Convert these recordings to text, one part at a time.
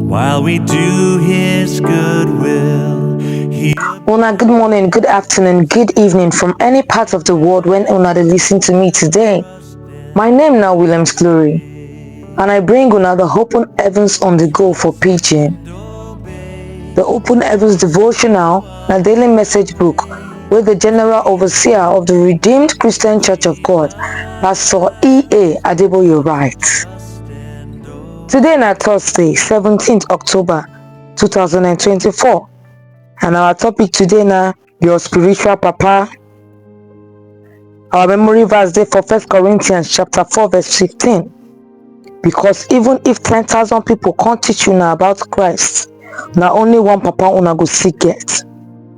While we do his good will, he Una, good morning, good afternoon, good evening from any part of the world when Una dey listen to me today. My name now Williams Glory, and I bring Una the Open Heavens on the Go for Pidgin. The Open Heavens Devotional na daily message book wey the General Overseer of the Redeemed Christian Church of God, Pastor E.A. Adeboye write. Today na Thursday, 17th October 2024 and our topic today na your spiritual papa. Our memory verse dey for First Corinthians chapter 4 verse 15. Because even if 10,000 people come teach una about Christ, na only one papa una go still get.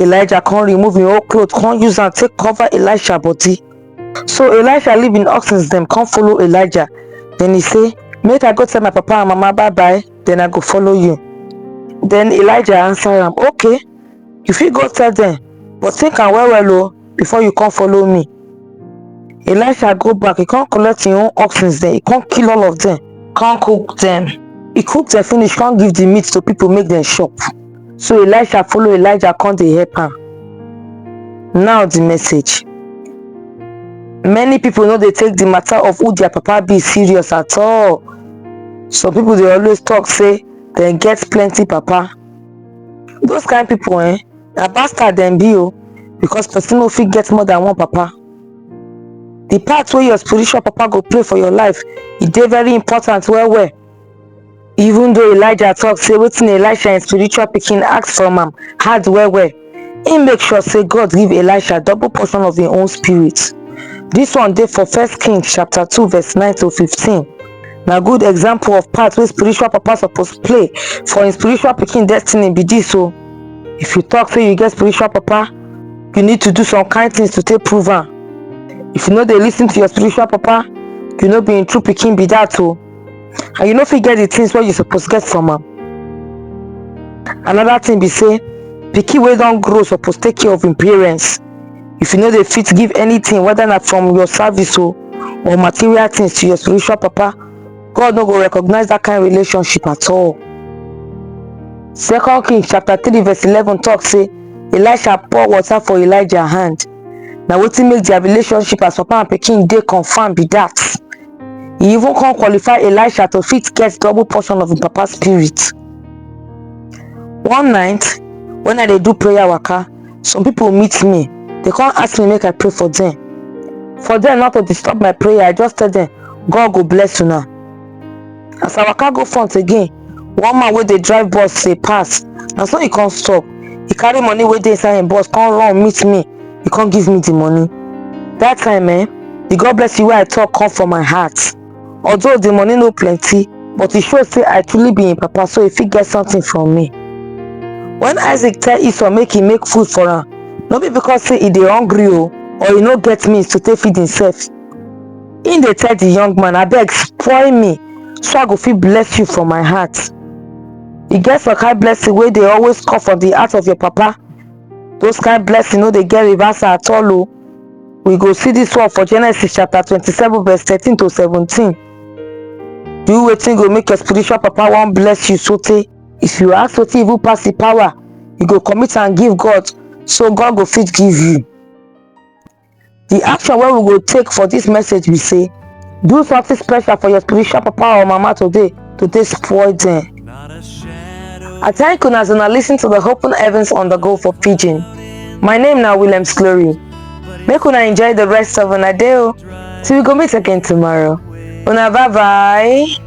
elijah come remove him whole cloth come use am take cover elisha body so elisha leave him oxen dem come follow elijah then he say make i go tell my papa and mama bye bye then i go follow you then elijah answer am okay you fit go tell them but think am well well o before you come follow me elisha go back he come collect him own oxen dem he come kill all of them come cook them he cook them finish come give the meat to people make them chop so elisha follow elijah come dey help am now the message many people no dey take the matter of who their papa be serious at all some people dey always talk say dem get plenty papa those kind people eh na bastard dem be o because person no fit get more than one papa the part wey your spiritual papa go play for your life e dey very important well well even though elijah talk say wetin elisha im spiritual pikin ask from am hard well well im make sure say god give elisha double portion of im own spirit this one dey for first king chapter 2 verse 9 to 15 na good example of part wey spiritual papa suppose play for im spiritual pikin destiny be this o if you talk say you get spiritual papa you need to do some kind things to take prove am if you no dey lis ten to your spiritual papa you no be im true pikin be that o and you no fit get the things wey you suppose get from am another thing be say pikin wey don grow suppose take care of im parents if you no dey fit give anything whether na from your service o or material things to your spiritual papa God no go recognize that kind relationship at all. Second Kings chapter 3 verse 11 talk say Elisha pour water for Elijah hand. Na wetin make their relationship as papa and pikin dey confirm be that. He even come qualify Elisha to fit get double portion of him papa spirit. One night when I dey do prayer waka, some people meet me they come ask me make i pray for them for them not to disturb my prayer i just tell them god go bless you now as i waka go front again one man wey dey drive bus say pass na so he come stop he carry money wey dey inside him bus come run meet me he come give me the money that time eh the god bless you wey i talk come from my heart although the money no plenty but e show say i truly be im papa so e fit get something from me when isaac tell esau make e make food for am no be because say e dey hungry o or e no get means to take feed himself im dey tell the young man abeg spoil me so i go fit bless you for my heart e get some kind blessing wey dey always come from the heart of your papa those kind blessing no dey get reversal at all o we go see this one for genesis chapter 27 verse 13 to 17 do wetin go make your spiritual papa wan bless you sotey if you ask wetin even pass the power you go commit and give god so god go fit give you the action wey we go take for this message be say Do something special for your spiritual papa or mama today to take spoil them. I thank you as una listen to the Open Heavens on the Go for Pidgin. My name now William Slory. Make una enjoy the rest of una day. o. Till we go meet again tomorrow. Una bye bye.